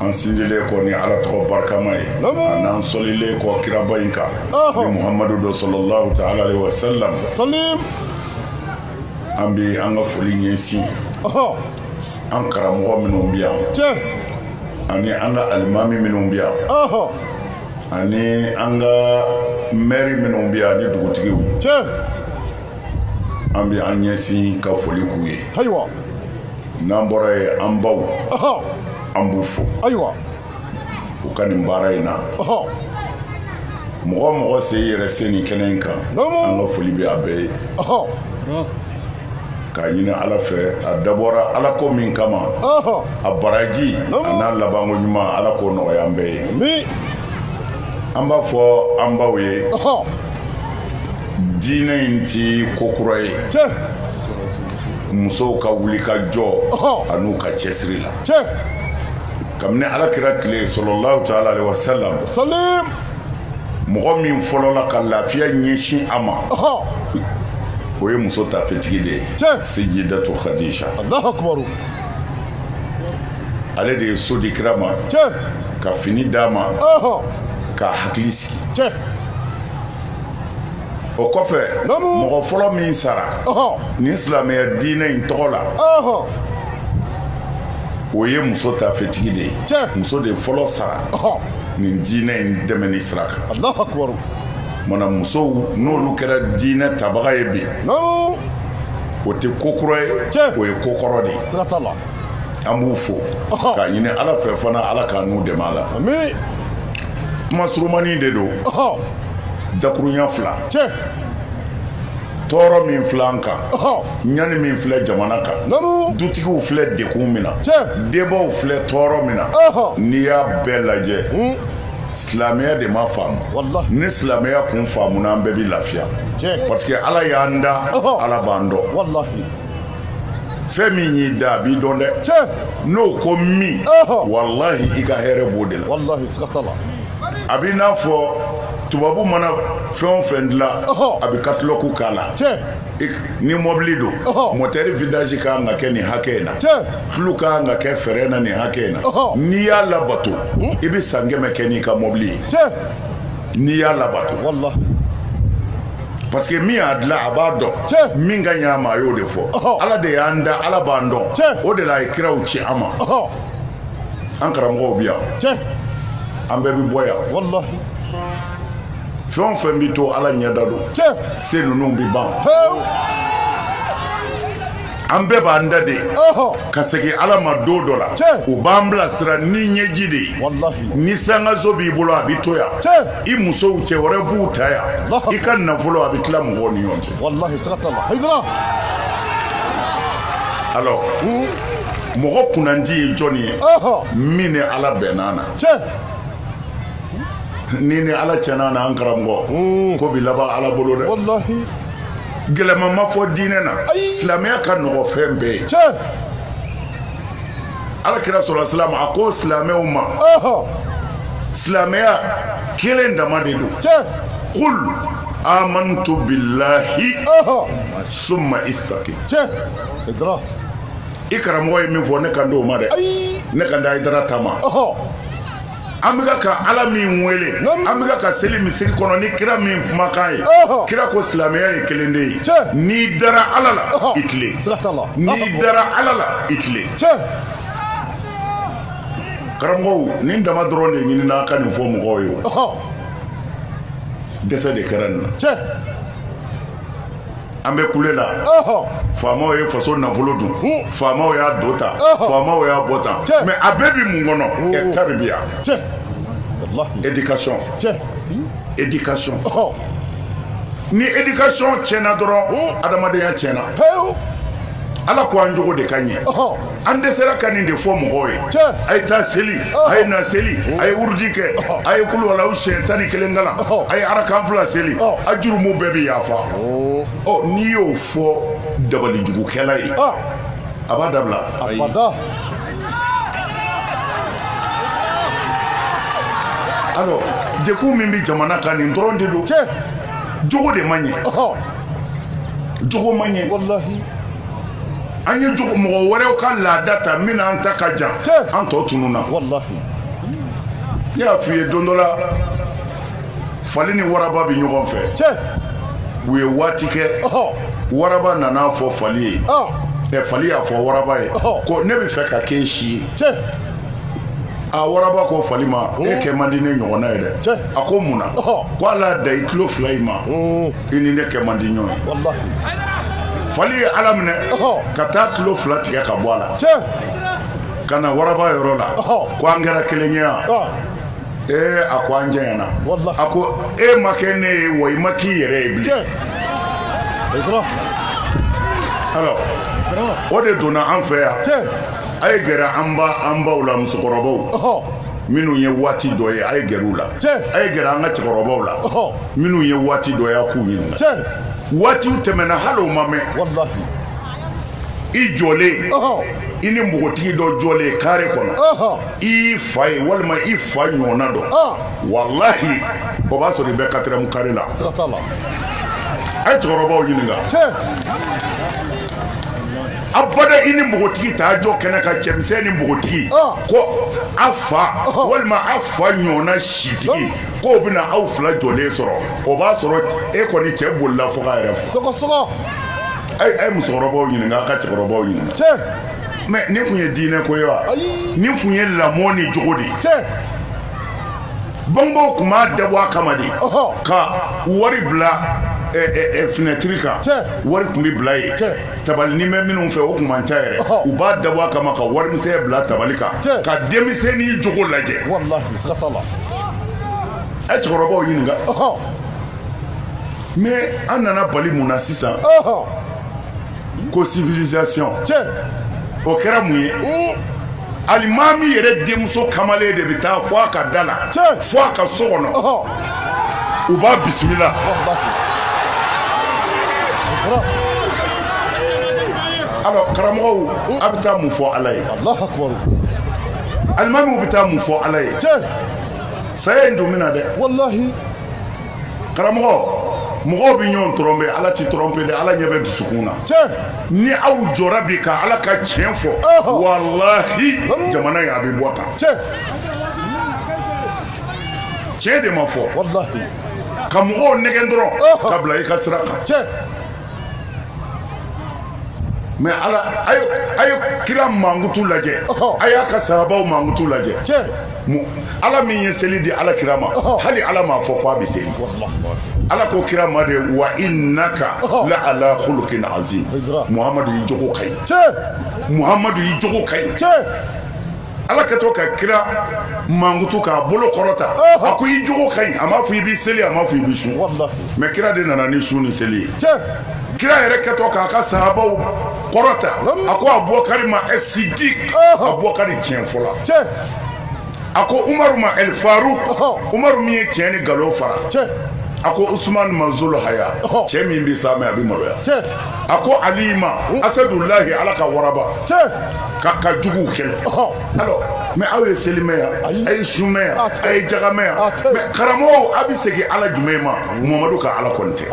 an sindilen kɔ ni ala tɔgɔ barikama ye ani an salilen kɔ kiraba in kan ni muhamadu don salalahu taala alayhi wa salam an bɛ an ka foli ɲɛsin an karamɔgɔ minnu bɛ yan ani an ka alimami minnu bɛ yan ani an ka mɛri minnu bɛ yan ni dugutigiw an bɛ an ɲɛsin ka foli k'u ye n'an bɔra yen an baw an b'u fo ayiwa u ka nin baara in na mɔgɔ o mɔgɔ sen yɛrɛ selen kɛnɛ in kan an ka foli bɛ a bɛɛ ye k'a ɲini ala fɛ a dabɔra ala ko min kama a baraji an'a labanko ɲuman ala k'o nɔgɔya an bɛɛ ye an b'a fɔ an baw ye diinɛ in ti ko kura ye musow ka wuli ka jɔ ani u ka cɛsiri la kabini ala kira tile salalahu taala alayhi wa salam mɔgɔ min fɔlɔla ka lafiya ɲɛsin a ma o ye muso taafetigi de ye seyidatu kadija ale de ye so di kira ma ka fini d'a ma ka hakili sigi o kɔfɛ mɔgɔ fɔlɔ min sara ni silamɛya diinɛ in tɔgɔ la o ye muso taafetigi de ye muso de fɔlɔ sara nin diinɛ in dɛmɛni sira kan mana musow n'olu kɛra diinɛ tabaga ye bi o tɛ ko kura ye o ye ko kɔrɔ de ye an b'u fo k'a ɲini ala fɛ fana ala k'an n'u dɛmɛ a la kuma surumani de don dakurunya fila tɔɔrɔ min filɛ an kan ɲani min filɛ jamana kan dutigiw filɛ dɛgun min na denbaw filɛ tɔɔrɔ min na n'i y'a bɛɛ lajɛ hmm. silamɛya de ma faamu ni silamɛya kun faamuna an bɛɛ bi lafiya parce que ala y'an da ala b'an dɔn fɛn min y'i da a b'i dɔn dɛ n'o ko min walahi i ka hɛrɛ b'o de la a b'i n'a fɔ tubabu mana fɛn o fɛn dilan a bɛ katalɔgu k'a la ni mɔbili don mɔtɛri vidanzi ka kan ka kɛ nin hakɛ in na tulu ka kan ka kɛ fɛrɛn na nin hakɛ in na n'i y'a labato i bɛ san kɛmɛ kɛ n'i ka mɔbili ye n'i y'a labato wallahi parce que min y'a dilan a b'a dɔn min ka ɲi a ma a y'o de fɔ ala de y'an da ala b'an dɔn o de la a ye kiraw ci an ma an karamɔgɔw bi yan an bɛɛ bi bɔ yan wallahi fɛn o fɛn bɛ to ala ɲɛda don sɛgɛn ninnu bɛ ban an bɛɛ b'an da de ka segin ala ma don dɔ la u b'an bilasira ni ɲɛji de ye ni sankanso b'i bolo a bɛ to yan i musow cɛ wɛrɛ b'u ta yan i ka nafolo a bɛ tila mɔgɔw ni ɲɔgɔn cɛ alors hmm? mɔgɔ kunnandi ye jɔni ye min ni ala bɛnna na n'i ni ala cɛ ɲana an karamɔgɔ hmm. ko bi laban ala bolo dɛ gɛlɛman ma fɔ diinɛ na silamɛya ka nɔgɔ fɛn bɛɛ ye ala kira salasalam a ko silamɛw ma silamɛya kelen dama de don kul amantu billahi summa istaqim i karamɔgɔ ye min fɔ ne kan t'o ma dɛ ne kan tɛ hayidara ta ma An bɛka ka ala min wele an bɛka ka seli misiri kɔnɔ ni kira min kumakan ye kira ko silamɛya ye kelen de ye n'i dara ala la i tilen n'i dara ala la i tilen karamɔgɔw nin dama dɔrɔn de ɲinina an ka nin fɔ mɔgɔw ye dɛsɛ de kɛra nin na an bɛ kule la faamaw ye faso nafolo dun faamaw y'a don tan faamaw y'a bɔ tan mais a bɛɛ bɛ mun kɔnɔ ɛ taribiya éducation éducation ni éducation tiɲɛna dɔrɔn adamadenya tiɲɛna ala ko an jogo de ka ɲɛ an dɛsɛra ka nin de fɔ mɔgɔw ye a ye taa seli a ye na seli a ye wurudi kɛ a ye kuluwalahu siyɛn tan ni kelen kalan a ye arakan fila seli a jurumu bɛɛ bɛ yafa ɔ n'i y'o fɔ dabalijugukɛla ye a b'a dabila alors dɛgun min bɛ jamana kan nin dɔrɔn de don jogo de man ɲɛ jogo man ɲɛ an ye jogo mɔgɔ wɛrɛw ka laada ta min n'an ta ka jan an tɔ tununna ne y'a f'i ye don dɔ la fali ni waraba bɛ ɲɔgɔn fɛ u ye waati kɛ waraba nana a fɔ fali ye ɛ fali y'a fɔ waraba ye ko ne bɛ fɛ ka k'e si ye a waraba ko fali ma e kɛ man di ne ɲɔgɔnna ye dɛ a ko mun na ko ala da i tulo fila in ma i ni ne kɛ man di ɲɔgɔn ye fali ye a laminɛ ka taa tulo fila tigɛ ka bɔ a la ka na waraba yɔrɔ la ko an kɛra kelen ye yan ee a ko an janyana a ko e ma kɛ ne ye wa i ma k'i yɛrɛ ye bilen alors o de donna an fɛ yan a ye gɛrɛ an ba an baw la musokɔrɔbaw minnu ye waati dɔ ye a ye gɛrɛ u la a ye gɛrɛ an ka cɛkɔrɔbaw la minnu ye waati dɔ ye a k'u ɲininka waati tɛmɛna hali o ma mɛn i jɔlen i ni npogotigi dɔ jɔlen carré kɔnɔ i fa ye walima i fa ɲɔgɔnna dɔ walahi o b'a sɔrɔ i bɛ quatrième carré la a ye cɛkɔrɔbaw ɲininka abada i ni npogotigi taa jɔ kɛnɛ kan cɛmisɛn ni npogotigi ko a fa walima a fa ɲɔgɔnna sitigi k'o bɛna aw fila jɔlen sɔrɔ o b'a sɔrɔ e kɔni cɛ bolila fo yɛrɛ a ye musokɔrɔbaw ɲininka aw ka cɛkɔrɔbaw ɲininka mɛ nin tun ye diinɛ ko ye wa nin tun ye lamɔ ni jogo de ye bangebaw tun b'a dabɔ a kama de ka wari bila finɛtiri kan wari tun bɛ bila yen tabalinin bɛ minnu fɛ o tun man ca yɛrɛ u b'a dabɔ a kama ka warimisɛn bila tabali kan ka denmisɛnnin jogo lajɛ a ye cɛkɔrɔbaw ɲininka mɛ an nana bali mun na sisan ko civilisation tiɲɛ o kɛra mun ye alimami yɛrɛ denmuso kamalen de bɛ taa fo a ka da la fo a ka so kɔnɔ u b'a bisimila alors karamɔgɔw a bɛ taa mun fɔ ala ye alimamiw bɛ taa mun fɔ ala ye saya in don min na dɛ walahi karamɔgɔ mɔgɔw bɛ ɲɔgɔn trɔnpe ala tɛ trɔnpe dɛ ala ɲɛ bɛ dusukun na ni aw jɔra bi ka ala ka tiɲɛ fɔ walahi jamana in a bɛ bɔ tan tiɲɛ de ma fɔ ka mɔgɔw nɛgɛ dɔrɔn ka bila i ka sira kan mɛ a ye kira mankutu lajɛ a y'a ka sahabaw mankutu lajɛ ala min ye seli di ala kira ma hali ala m'a fɔ ko a bɛ seli ala ko kira ma de wa innaka la ala khuluqin azim muhamadu i jogo ka ɲi muhamadu i jogo ka ɲi ala kɛtɔ ka kira mankutu k'a bolo kɔrɔta a ko i jogo ka ɲi a m'a fɔ i bɛ seli a m'a fɔ i bɛ sun mɛ kira de nana ni sun ni seli ye kira yɛrɛ kɛtɔ k'a ka sahabaw kɔrɔta a ko abubakari ma ɛsidiki abubakari tiɲɛ fɔla a ko umaru ma ɛl faruku umaru min ye tiɲɛ ni nkalon fara a ko usumani ma zul haya cɛ min bɛ saamɛ a bɛ maloya a ko ali ma asadulahi ala ka waraba ka ka juguw kɛlɛ alors mais aw ye seli mɛ yan a ye sun mɛ yan a ye jaka mɛ yan mais karamɔgɔw a bɛ segin ala jumɛn ma mamadu ka ala kɔni tɛ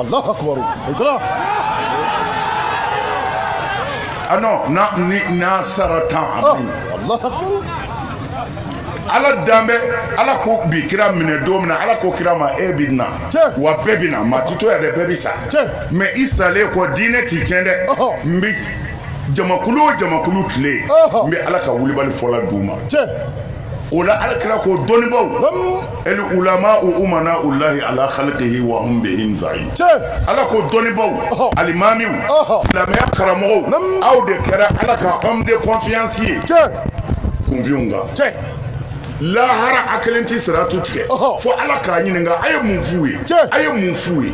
ah non na ni na sara tan a bɛ ala danbɛ ala ko bi kira minɛ don min na ala ko kira ma e bɛ na wa bɛɛ bɛ na maa ti to yan dɛ bɛɛ bɛ sa mais i salen kɔ diinɛ ti tiɲɛ dɛ n bɛ jamakulu o jamakulu tile n bɛ ala ka wulibali fɔla d' u ma o la ala kira ko dɔnnibaw al ulama u umana u layi ala halkihi wa bɛsa ye ala ko dɔnnibaw alimami silamɛya karamɔgɔ aw de kɛra ala ka homme de confiance ye kunfinw kan lahara a kelen tɛ siratu tigɛ fo ala k'a ɲininka a ye mun f'u ye a ye mun f'u ye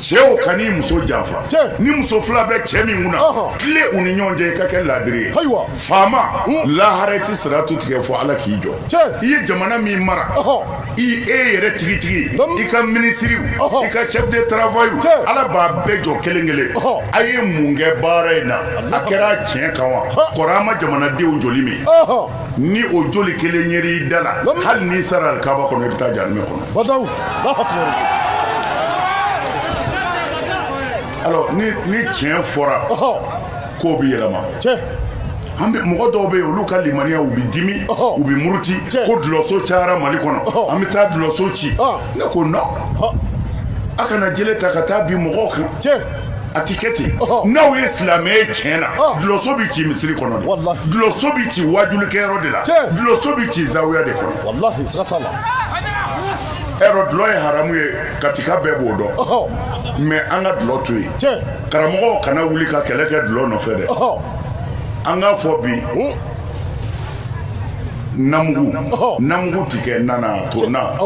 cɛw kan'i muso janfa ni muso fila bɛ cɛ min kunna tilen u ni ɲɔgɔn cɛ i ka kɛ laadiri ye faama hmm. lahara i tɛ siratu tigɛ fo ala k'i jɔ i ye jamana min mara i e yɛrɛ tigitigi i ka minisiriw i ka chef de travail ala b'a bɛɛ jɔ kelen kelen a ye mun kɛ baara in na a kɛra tiɲɛ kan wa kɔrɔ a ma jamanadenw joli min ni o joli kelen yer'i da la hali n'i sara kaba kɔnɔ i bɛ taa jahanama kɔnɔ ni tiɲɛ fɔra k'o bɛ yɛlɛma an mɔgɔ dɔw bɛ yen olu ka limaniya u bɛ dimi u bɛ muruti ko dulɔso cayara mali kɔnɔ an bɛ taa dulɔso ci ne ko non aw kana jele ta ka taa bin mɔgɔw kan a tɛ kɛ ten n'aw ye silamɛ ye tiɲɛ na dulɔso bɛ ci misiri kɔnɔ dulɔso bɛ ci wajulikɛyɔrɔ de la dulɔso bɛ ci zawuya de kɔnɔ ɛrɔ dulɔ ye haramu ye katika bɛɛ b'o dɔn mais an ka dulɔ to yen karamɔgɔw kana wuli ka kɛlɛ kɛ dulɔ nɔfɛ dɛ an k'a fɔ bi hmm. namugu namugu ti kɛ na na to na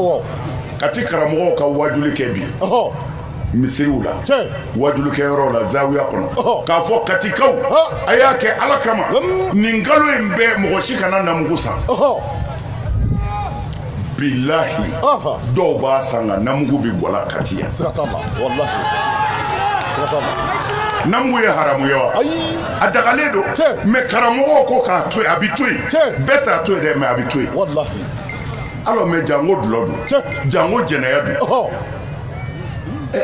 kati karamɔgɔw ka wajuli kɛ bi misiriw la wajulikɛyɔrɔ la zawuya kɔnɔ k'a fɔ katikaw a y'a kɛ ala kama nin kalo in bɛɛ mɔgɔ si kana namugu san bilayi dɔw b'a san nka namugu bɛ bɔ kati yan namugu ye haramu ye wa a dagalen don mais karamɔgɔ ko k'a to a bɛ to yen bɛɛ t'a to yen dɛ mais a bɛ to yen alors mais jango dulɔ don jango jɛnɛya don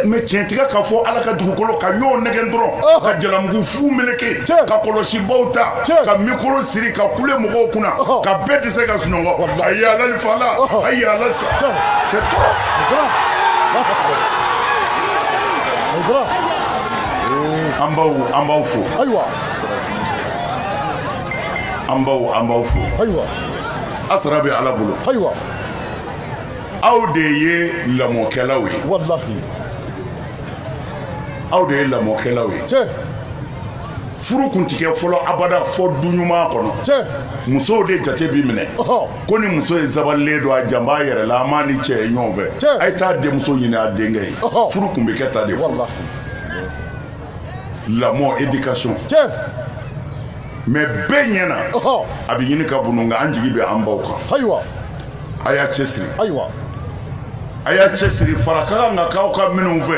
mais tiɲɛ tɛ ka fɔ ala ka dugukolo kan ɲɔgɔn nɛgɛn dɔrɔn ka jalamugu fu meleke ka kɔlɔsibaw ta ka mikoro siri ka kule mɔgɔw kunna ka bɛɛ tɛ se ka sunɔgɔ a ye ala ni fa la a ye ala sa an baw an b'aw fo ayiwa an baw an b'aw fo ayiwa a sara bɛ ala bolo ayiwa aw de ye lamɔkɛlaw ye walahi aw de ye lamɔkɛlaw ye cɛ furu kun ti kɛ fɔlɔ abada fo du ɲuman kɔnɔ cɛ musow de jate bi minɛ ɔhɔ ko nin muso in sabalilen don a jan b'a a yɛrɛ la an m'a ni cɛ ye ɲɔgɔn fɛ Cɛ. a ye taa denmuso ɲini a denkɛ ye Ɔhɔ. furu kun bɛ kɛ tan de fɔlɔ walahi lamɔ éducation tiɲɛ mais bɛɛ ɲɛna a bɛ ɲini ka bunu nka an jigi bɛ an baw kan ayiwa a y'a cɛsiri ayiwa a y'a cɛsiri fara ka kan ka k'aw kan minnu fɛ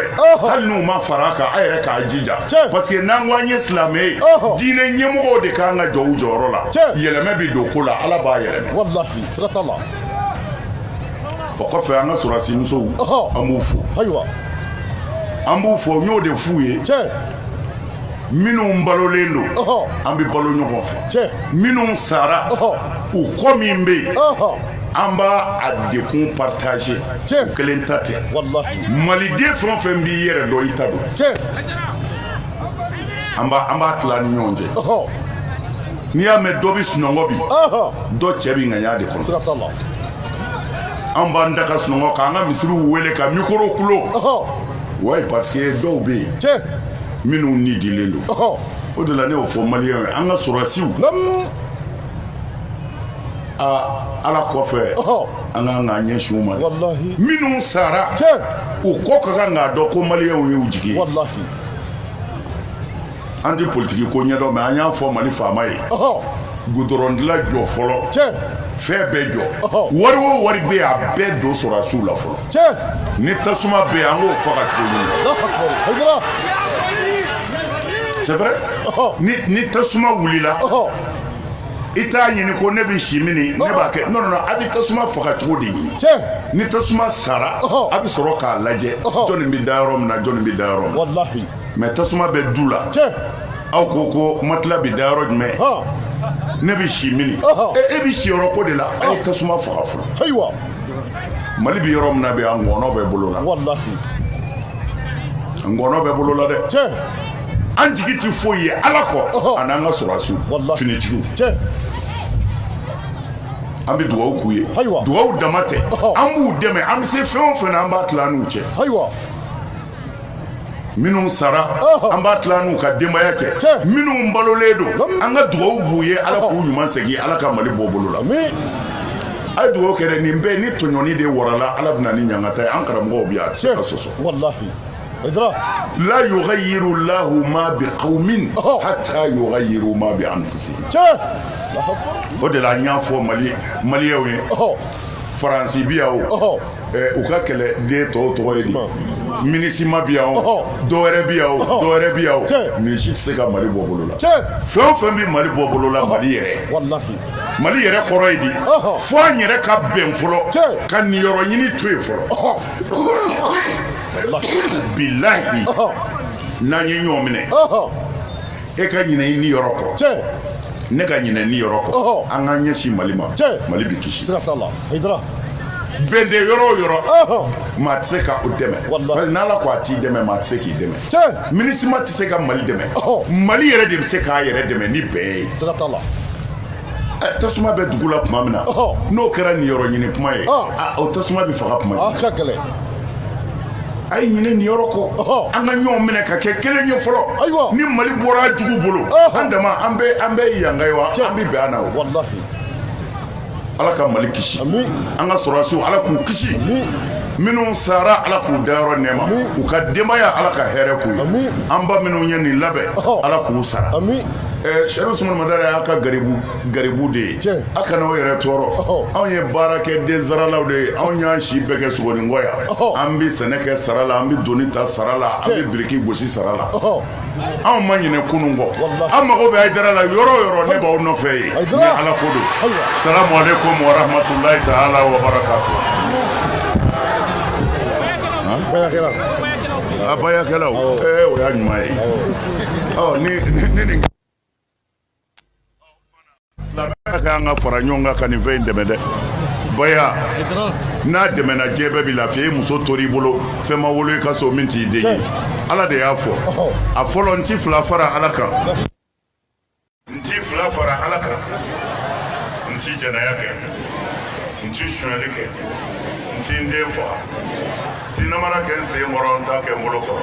hali n'u ma fara a kan a yɛrɛ k'a jija parce que n'an ko an ye silamɛ ye diinɛ ɲɛmɔgɔw de ka kan ka jɔ u jɔyɔrɔ la yɛlɛmɛ bɛ don ko la ala b'a yɛlɛmɛ walahi siga t'a la o kɔfɛ an ka sɔrɔdasi musow an b'u fo ayiwa an b'u fo n y'o de f'u ye minnu balolen don an bɛ balo ɲɔgɔn fɛ minnu sara u kɔ min bɛ yen an b'a a degun partager u kelen ta tɛ maliden fɛn o fɛn b'i yɛrɛ dɔn i ta don an b'a an b'a tila ni ɲɔgɔn cɛ n'i y'a mɛn dɔ bɛ sunɔgɔ bi dɔ cɛ bɛ ŋaɲa de kɔnɔ an b'an da ka sunɔgɔ k'an ka misiriw wele ka mikoro kulo wayi parce que dɔw bɛ yen minnu ni dilen don o de la ne y'o fɔ maliyɛnw ye an ka sɔrɔdasiw aa ala kɔfɛ an ka kan k'an ɲɛsin u ma minnu sara u kɔ ka kan k'a dɔn ko maliyɛnw y'u jigi ye an tɛ politigi ko ɲɛdɔn mais an y'a fɔ mali faama ye gudɔrɔndila jɔ fɔlɔ fɛn bɛɛ jɔ wari o wari bɛ a bɛɛ don sɔrɔdasiw la fɔlɔ ni tasuma bɛ an k'o faga cogo c'est vrai ni tasuma wulila i t'a ɲini ko ne bɛ si min ne b'a kɛ non non a bɛ tasuma faga cogo de ɲini ni tasuma sara a bɛ sɔrɔ k'a lajɛ jɔnni bɛ da yɔrɔ min na jɔnni bɛ da yɔrɔ mɛ tasuma bɛ du la aw ko ko matila bɛ da yɔrɔ jumɛn ne bɛ si mini e bɛ siyɔrɔ ko de la aw ye tasuma faga fɔlɔ ayiwa mali bɛ yɔrɔ min na bi an ŋɔnɔ bɛ bolo la ŋɔnɔ bɛ bolo la dɛ an jigi tɛ foyi ye ala kɔ ani n'an ka sɔrɔsiw finitigiw an bɛ dugawu k'u ye dugawu dama tɛ an b'u dɛmɛ an bɛ se fɛn o fɛn an b'a tila n'u cɛ minnu sara an b'a tila n'u ka denbaya cɛ minnu balolen don an ka dugawu b'u ye ala k'u ɲuman segin ala ka mali bɔ bolo la a ye dugawu kɛ nin bɛɛ ni tɔɲɔni de warala ala bɛ na ni ɲangata ye an karamɔgɔw bi yan a tɛ se ka sɔsɔ la yughayyiru lahu ma bi qaumin hatta yughayyiru ma bi anfusihim o de la an y'a fɔ mali maliyɛnw ye faransi bi yan o u ka kɛlɛden tɔw tɔgɔ ye di minisima bi yan o dɔwɛrɛ bi yan o dɔwɛrɛ bi yan o nin si tɛ se ka mali bɔ bolo la fɛn o fɛn bɛ mali bɔ bolo la mali yɛrɛ mali yɛrɛ kɔrɔ ye di fo an yɛrɛ ka bɛn fɔlɔ ka niyɔrɔ ɲini to yen fɔlɔ bilahi n'an ye ɲɔgɔn minɛ e ka ɲinɛ i niyɔrɔ kɔ cɛ ne ka ɲinɛ niyɔrɔ kɔ Ɔhɔ. an k'an ɲɛsin mali ma Cɛ. mali bɛ kisi siga t'a la hayidara bɛn tɛ yɔrɔ o yɔrɔ ɔhɔ maa tɛ se ka o dɛmɛ Walahi. Parce que n'ala ko a t'i dɛmɛ maa tɛ se k'i dɛmɛ cɛ minisima tɛ se ka mali dɛmɛ Ɔhɔ. mali yɛrɛ de bɛ se k'a yɛrɛ dɛmɛ ni bɛn ye siga t'a la Ɛ, tasuma bɛ dugu la tuma min na Ɔhɔ. n'o kɛra niyɔrɔ ɲini kuma ye Ɔhɔ. a, o tasuma bɛ faga tuma jumɛn a ka gɛlɛn a ye ɲinɛ niyɔrɔ kɔ an ka ɲɔgɔn minɛ ka kɛ kelen ye fɔlɔ ni mali bɔra jugu bolo an dama an bɛ an bɛ yanga ye wa an bɛ bɛn an na o ala ka mali kisi an ka sɔrɔsiw ala k'u kisi minnu sara ala k'u dayɔrɔ nɛma u ka denbaya ala ka hɛrɛ k'u ye an ba minnu ye nin labɛn ala k'u sara sɛrifu usumani madani a ka garibu garibu de ye Tiɲɛ. a kana aw yɛrɛ tɔɔrɔ Ɔhɔ. anw ye baarakɛden saralaw de ye anw y'an si bɛɛ kɛ sogoninkɔ yan Ɔhɔ. an bɛ sɛnɛ kɛ sara la an bɛ doni ta sara la an Tiɲɛ. bɛ biriki gosi sara la ɔhɔ anw ma ɲinɛ kunun kɔ Walahi. an mago bɛ ayidara la yɔrɔ o yɔrɔ ne b'aw nɔfɛ yen Ayidara. ni ala ko don Ayiwa. salamu aleykum wa rahmatulahi taala wa barakatu bayakɛla a bayakɛlaw Awɔ. ɛɛ o y'a ɲuman ye awɔ Ɔ, ni ni- ni nin silamɛya ka kan ka fara ɲɔgɔn kan ka nin fɛn in dɛmɛ dɛ baya n'a dɛmɛna diɲɛ bɛɛ bi lafiya i muso tor'i bolo fɛn ma wolo i ka so min t'i den ye ala de y'a fɔ a fɔlɔ n ti fila fara ala kan n ti fila fara ala kan n ti jɛnɛya kɛ n ti sonyali kɛ n ti n den faga n ti namara kɛ n sen kɔrɔ n t'a kɛ n bolo kɔrɔ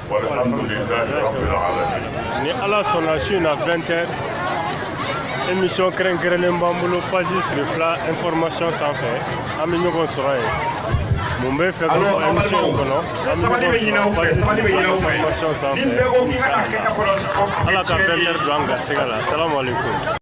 ni ala sɔnna su in na 20 heures émission kɛrɛnkɛrɛnnen b'an bolo page chérifla information sanfɛ an bɛ ɲɔgɔn sɔrɔ yen mun bɛ fɛ ka fɔ émission in kɔnɔ an bɛ ɲɔgɔn sɔrɔ page chérifla information sanfɛ ala ka 20 heures don an garisɛgɛ la salamu aleykum